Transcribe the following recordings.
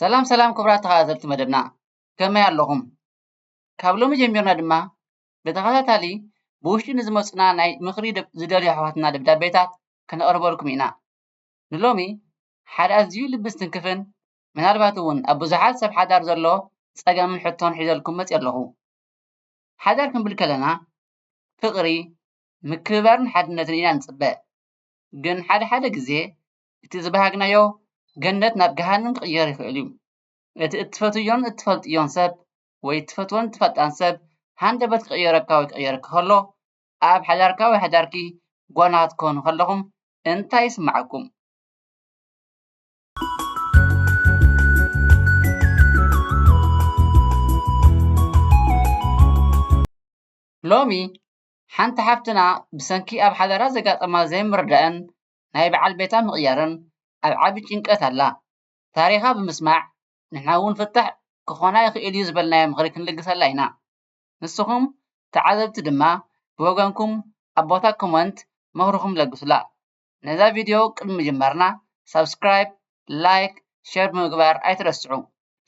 ሰላም ሰላም ክቡራት ተኸታተልቲ መደብና ከመይ ኣለኹም? ካብ ሎሚ ጀሚርና ድማ ብተኸታታሊ ብውሽጢ ንዝመፁና ናይ ምኽሪ ዝደልዩ ኣሕዋትና ደብዳቤታት ከነቕርበልኩም ኢና። ንሎሚ ሓደ ኣዝዩ ልቢ ዝትንክፍን ምናልባት እውን ኣብ ብዙሓት ሰብ ሓዳር ዘሎ ፀገምን ሕቶን ሒዘልኩም መፂኣ ኣለኹ። ሓዳር ክንብል ከለና ፍቕሪ፣ ምክብባርን ሓድነትን ኢና ንፅበ። ግን ሓደ ሓደ ግዜ እቲ ዝበሃግናዮ ገነት ናብ ገሃነም ክቕየር ይኽእል እዩ። እቲ እትፈትውዮን እትፈልጥዮን ሰብ ወይ እትፈትዎን እትፈልጣን ሰብ ሃንደበት ክቕየረካ ወይ ክቕየረኪ ከሎ ኣብ ሓዳርካ ወይ ሓዳርኪ ጓና ክትኮኑ ከለኹም እንታይ ይስምዓኩም? ሎሚ ሓንቲ ሓፍትና ብሰንኪ ኣብ ሓዳራ ዘጋጠማ ዘይምርዳእን ናይ በዓል ቤታ ምቕያርን ኣብ ዓቢ ጭንቀት ኣላ። ታሪኻ ብምስማዕ ንሕና እውን ፍታሕ ክኾና ይኽእል እዩ ዝበልናዮ ምኽሪ ክንልግሰላ ኢና። ንስኹም ተዓዘብቲ ድማ ብወገንኩም ኣብ ቦታ ኮመንት ምኽርኹም ለግሱላ። ነዛ ቪድዮ ቅድሚ ምጅማርና ሳብስክራይብ ላይክ ሸር ብምግባር ኣይትረስዑ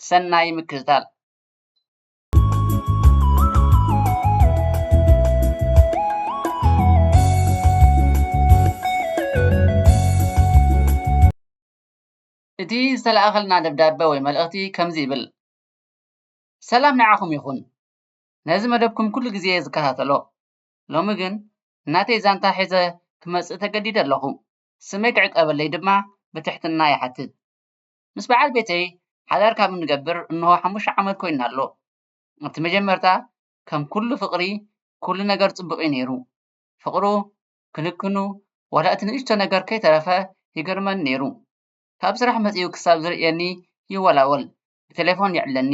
ሰናይ ምክትታል እቲ ዝተለኣኸልና ደብዳበ ወይ መልእኽቲ ከምዚ ይብል ሰላም ንዓኹም ይኹን ነዚ መደብኩም ኩሉ ግዜ ዝከታተሎ ሎሚ ግን ናተይ ዛንታ ሒዘ ክመጽእ ተገዲደ ኣለኹ። ስመይ ክዕቀበለይ ድማ ብትሕትና ይሓትት። ምስ በዓል ቤተይ ሓዳር ካብ እንገብር እንሆ ሓሙሽተ ዓመት ኮይኑና ኣሎ። ኣብቲ መጀመርታ ከም ኩሉ ፍቕሪ ኩሉ ነገር ጽቡቕ'ዩ ነይሩ። ፍቕሩ፣ ክንክኑ፣ ዋላ እቲ ንእሽቶ ነገር ከይተረፈ ይገርመኒ ነይሩ። ካብ ስራሕ መጺኡ ክሳብ ዝርእየኒ ይወላወል፣ ብተሌፎን ይዕለኒ፣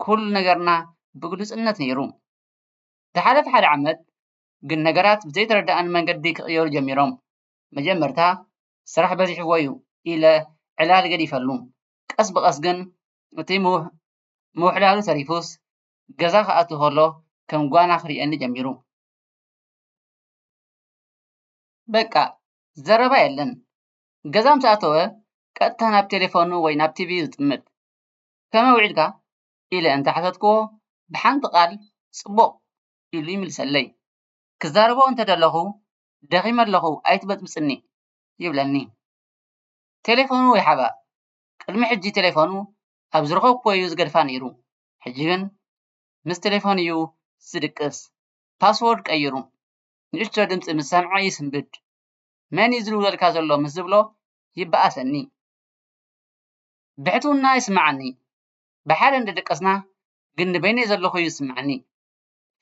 ኩሉ ነገርና ብግሉጽነት ነይሩ። ዝሓለፈ ሓደ ዓመት ግን ነገራት ብዘይተረደኣኒ መንገዲ ክቕየሩ ጀሚሮም። መጀመርታ ስራሕ በዚሕዎ'ዩ ኢለ ዕላል ገዲፈሉ። ቀስ ብቐስ ግን እቲ ምውሕላሉ ተሪፉስ ገዛ ክኣቱ ከሎ ከም ጓና ክርእየኒ ጀሚሩ። በቃ ዘረባ የለን። ገዛ ምስ ኣተወ ቀጥታ ናብ ቴለፎኑ ወይ ናብ ቲቪ'ዩ ዝጥምት። ከመይ ውዒልካ? ኢለ እንተሓተትክዎ ብሓንቲ ቃል ጽቡቕ ኢሉ ይምልሰለይ። ክዛረቦ እንተደለኹ ደኺመ ኣለኹ ኣይትበጽብጽኒ ይብለኒ። ቴሌፎኑ ይሓባእ። ቅድሚ ሕጂ ቴሌፎኑ ኣብ ዝረኸብክዎ'ዩ ዝገድፋ ነይሩ፣ ሕጂ ግን ምስ ቴሌፎኑ'ዩ ዝድቅስ፣ ፓስዎርድ ቀይሩ። ንእሽቶ ድምጺ ምስ ሰምዐ ይስንብድ። መን'ዩ ዝድውለልካ ዘሎ ምስ ዝብሎ ይበኣሰኒ። ብሕትውና ይስምዓኒ። ብሓደ እንዳደቀስና ግን ንበይነይ ዘለኹ እዩ ዝስምዓኒ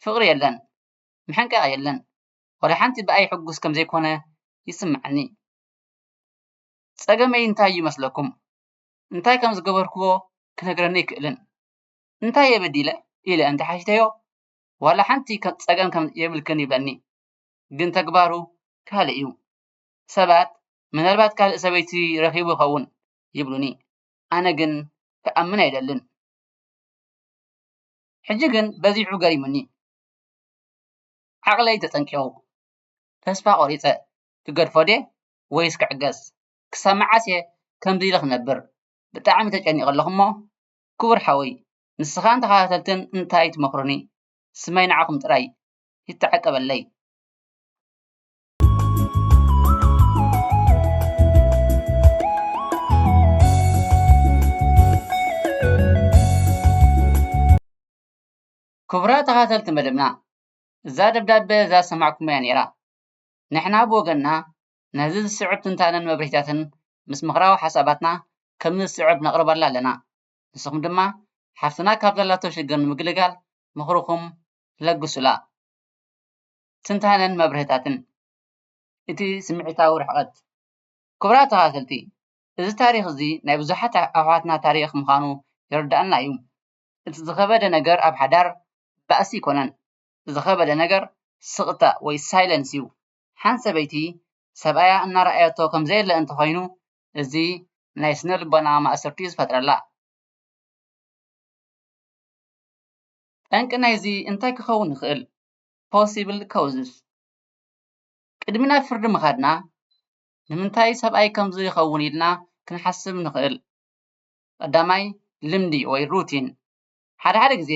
ፍቕሪ የለን ምሕንቃቕ የለን ዋላ ሓንቲ ብኣይ ሕጉስ ከም ዘይኮነ ይስምዓኒ ጸገመይ እንታይ እዩ መስለኩም እንታይ ከም ዝገበርክዎ ክነግረኒ ኣይክእልን እንታይ እየ በዲለ ኢለ እንተ ሓቲተዮ ዋላ ሓንቲ ጸገም ከም የብልክን ይብለኒ ግን ተግባሩ ካልእ እዩ ሰባት ምናልባት ካልእ ሰበይቲ ረኺቡ ይኸውን ይብሉኒ ኣነ ግን ክኣምን ኣይደልን። ሕጂ ግን በዚሑ ገሪሙኒ። ዓቕለይ ተጸንቂቑ። ተስፋ ቆሪጸ። ክገድፎ ድየ ወይስ ክዕገስ? ክሳብ መዓስ'የ ከምዚ ኢለ ክነብር? ብጣዕሚ ተጨኒቐ ኣለኹ'ሞ ክቡር ሓወይ ንስኻን ተኸታተልትን እንታይ ትመኽሩኒ? ስመይ ንዓኹም ጥራይ ይተዓቀበለይ። ክቡራት ተኻተልቲ መደብና እዛ ደብዳቤ እዛ ሰማዕኩማ እያ ነይራ ንሕና ብወገንና ነዚ ዝስዕብ ትንታነን መብርሂታትን ምስ ምኽራዊ ሓሳባትና ከም ዝስዕብ ነቕርበላ ኣለና ንስኹም ድማ ሓፍትና ካብ ዘላቶ ሽግር ንምግልጋል ምኽርኹም ለግሱላ ትንታነን መብርህታትን እቲ ስምዒታዊ ርሕቐት። ክቡራት ተኸታተልቲ እዚ ታሪኽ እዚ ናይ ብዙሓት ኣሕዋትና ታሪኽ ምዃኑ ይርደኣና እዩ። እቲ ዝኸበደ ነገር ኣብ ሓዳር ባእሲ ኣይኮነን ዝኸበደ ነገር ስቕታ ወይ ሳይለንስ እዩ። ሓንቲ ሰበይቲ ሰብኣያ እናረኣየቶ ከምዘየለ እንተኾይኑ እዚ ናይ ስነ ልቦና ማእሰርቲ እዩ ዝፈጥረላ። ጠንቂ ናይዚ እንታይ ክኸውን ይኽእል? possible causes ቅድሚ ናብ ፍርዲ ምኻድና ንምንታይ ሰብኣይ ከምዚ ይኸውን ኢልና ክንሓስብ ንኽእል። ቀዳማይ ልምዲ ወይ routine ሓደ ሓደ ግዘ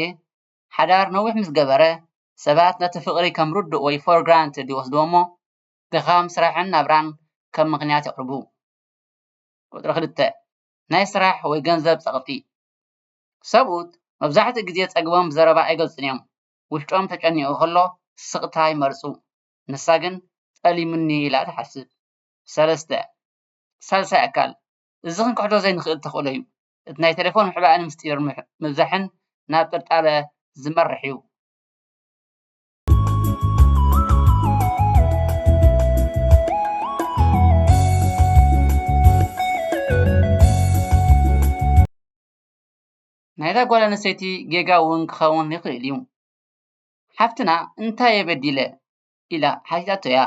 ሓዳር ነዊሕ ምስ ገበረ ሰባት ነቲ ፍቕሪ ከም ርዱእ ወይ for granted ይወስድዎ እሞ ድኻም ስራሕን ናብራን ከም ምኽንያት የቕርቡ። ቁፅሪ ክልተ ናይ ስራሕ ወይ ገንዘብ ፀቕጢ ሰብኡት መብዛሕትኡ ግዘ ፀግቦም ብዘረባ ኣይገልፁን እዮም። ውሽጦም ተጨኒቑ ከሎ ስቕታ ይመርጹ፣ ንሳ ግን ጠሊሙኒ ኢላ ትሓስብ። ሰለስተ። ሳልሳይ ኣካል፣ እዚ ክንክሕዶ ዘይንኽእል ተኽእሎ እዩ። እቲ ናይ ተሌፎን ምሕባእን ምስጢር ምብዛሕን ናብ ጥርጣረ ዝመርሕ እዩ። ናይዛ ጓል ኣንስተይቲ ጌጋ እውን ክኸውን ይኽእል እዩ። ሓፍትና እንታይ እየ በዲለ ኢላ ሓቲታቶ እያ።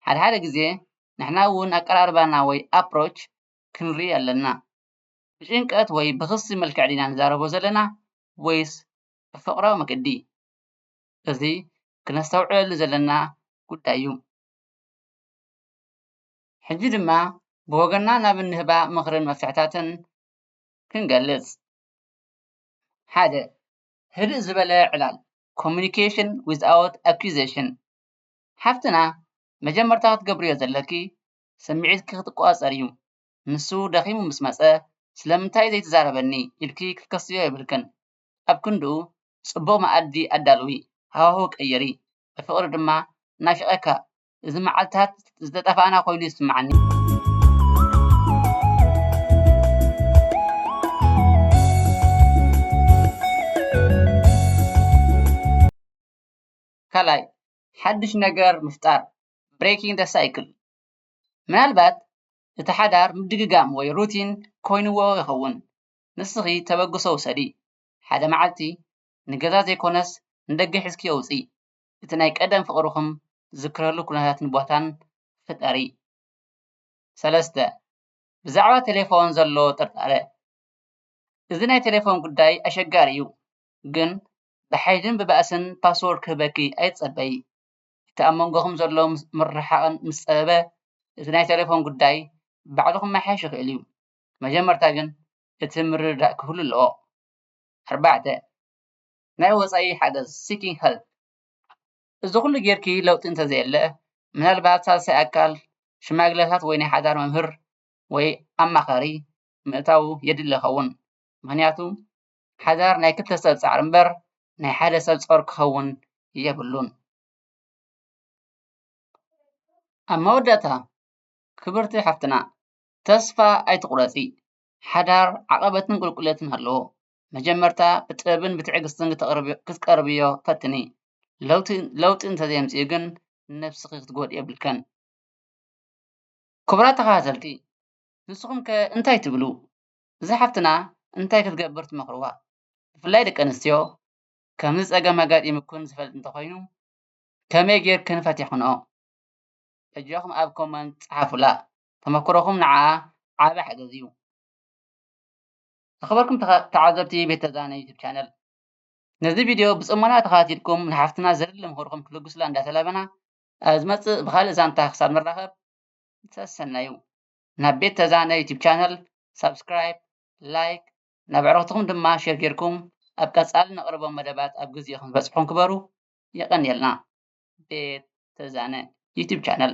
ሓደ ሓደ ግዘ ንሕና እውን ኣቀራርባና ወይ approach ክንርኢ ኣለና። ብጭንቀት ወይ ብኽሲ መልክዕ ድና ንዛረቦ ዘለና ወይስ ብፍቕራዊ መገዲ? እዚ ክነስተውዕለሉ ዘለና ጉዳይ እዩ። ሕጂ ድማ ብወገና ናብ እንህባ ምኽርን መፍትሕታትን ክንገልፅ ሓደ ህድእ ዝበለ ዕላል ኮሙኒኬሽን ዊዝኣውት ኣኪዜሽን ሓፍትና መጀመርታ ክትገብርዮ ዘለኪ ስምዒትኪ ክቆፃፀር እዩ ንሱ ደኺሙ ምስ መፀ ስለምንታይ ዘይትዛረበኒ ኢልኪ ክትከስርዮ የብልክን ኣብ ክንድኡ ፅቡቅ መኣዲ ኣዳልዊ ሃዋህው ቀይሪ ብፍቅሪ ድማ ናፊቀካ እዚ መዓልትታት ዝተጠፋእና ኮይኑ ይስምዓኒ። ካልኣይ፣ ሓድሽ ነገር ምፍጣር፣ Breaking the Cycle፣ ምናልባት እቲ ሓዳር ምድግጋም ወይ ሩቲን ኮይንዎ ይኸውን። ንስኺ ተበግሶ ውሰዲ፣ ሓደ መዓልቲ ንገዛ ዘይኮነስ ንደገ ሒዝክዮ ውፅኢ። እቲ ናይ ቀደም ፍቅርኩም ትዝክረሉ ኩነታትን ቦታን ፍጠሪ። ሰለስተ፣ ብዛዕባ ቴሌፎን ዘሎ ጥርጣረ፣ እዚ ናይ ቴሌፎን ጉዳይ ኣሸጋሪ እዩ ግን ብሓይልን ብባእስን ፓስወርድ ክህበኪ ኣይትጸበዪ። እቲ ኣብ መንጎኩም ዘሎ ምርሕሓቅ ምስ ጸበበ እቲ ናይ ቴሌፎን ጉዳይ ባዕሉ ክመሓየሽ ይክእል እዩ። መጀመርታ ግን እቲ ምርድዳእ ክህሉ ኣለዎ። ኣርባዕተ፣ ናይ ወፃኢ ሓገዝ seeking help እዚ ኩሉ ጌርኪ ለውጢ እንተዘየለ ምናልባት ሳልሳይ ኣካል ሽማግለታት ወይ ናይ ሓዳር መምህር ወይ ኣማኻሪ ምእታው የድሊ ይኸውን። ምኽንያቱ ሓዳር ናይ ክልተ ሰብ ፃዕሪ እምበር ናይ ሓደ ሰብ ፆር ክኸውን የብሉን። ኣብ መወዳእታ ክብርቲ ሓፍትና ተስፋ ኣይትቑረፂ ሓዳር ዓቐበትን ቁልቁለትን ኣለዎ። መጀመርታ ብጥበብን ብትዕግስትን ክትቀርብዮ ፈትኒ ለውጢ እንተዘየምፂኡ ግን ንነብስኪ ክትጎድኢ የብልክን። ክቡራት ተከታተልቲ ንስኩም ከ እንታይ ትብሉ እዛ ሓፍትና እንታይ ክትገብር ትመክርዋ ብፍላይ ደቂ ኣንስትዮ ከምዚ ፀገም ኣጋጢሙክን ዝፈልጥ እንተኮይኑ ከመይ ገይርክን ፈቲክንኦ በጃኩም ኣብ ኮመንት ፀሓፉላ ተመክሮኩም ንዓኣ ዓብይ ሓገዝ እዩ። ዝኸበርኩም ተዓዘብቲ ቤተ ዛና ዩቱብ ቻነል ነዚ ቪድዮ ብፅሞና ተኸታቲልኩም ንሓፍትና ዘድሊ ምኽርኹም ክትልግሱላ እንዳተላበና ኣብ ዝመፅእ ብኻልእ ዛንታ ክሳብ ንራኸብ ሰሰናዩ ናብ ቤት ተዛነ ዩቱብ ቻነል ሳብስክራይብ ላይክ ናብ ኣዕሩኽትኹም ድማ ሼር ጌርኩም ኣብ ቀፃሊ ነቕርቦም መደባት ኣብ ግዜኡ ክንበፅሑም ክበሩ የቐንየልና ቤት ተዛነ ዩቱብ ቻነል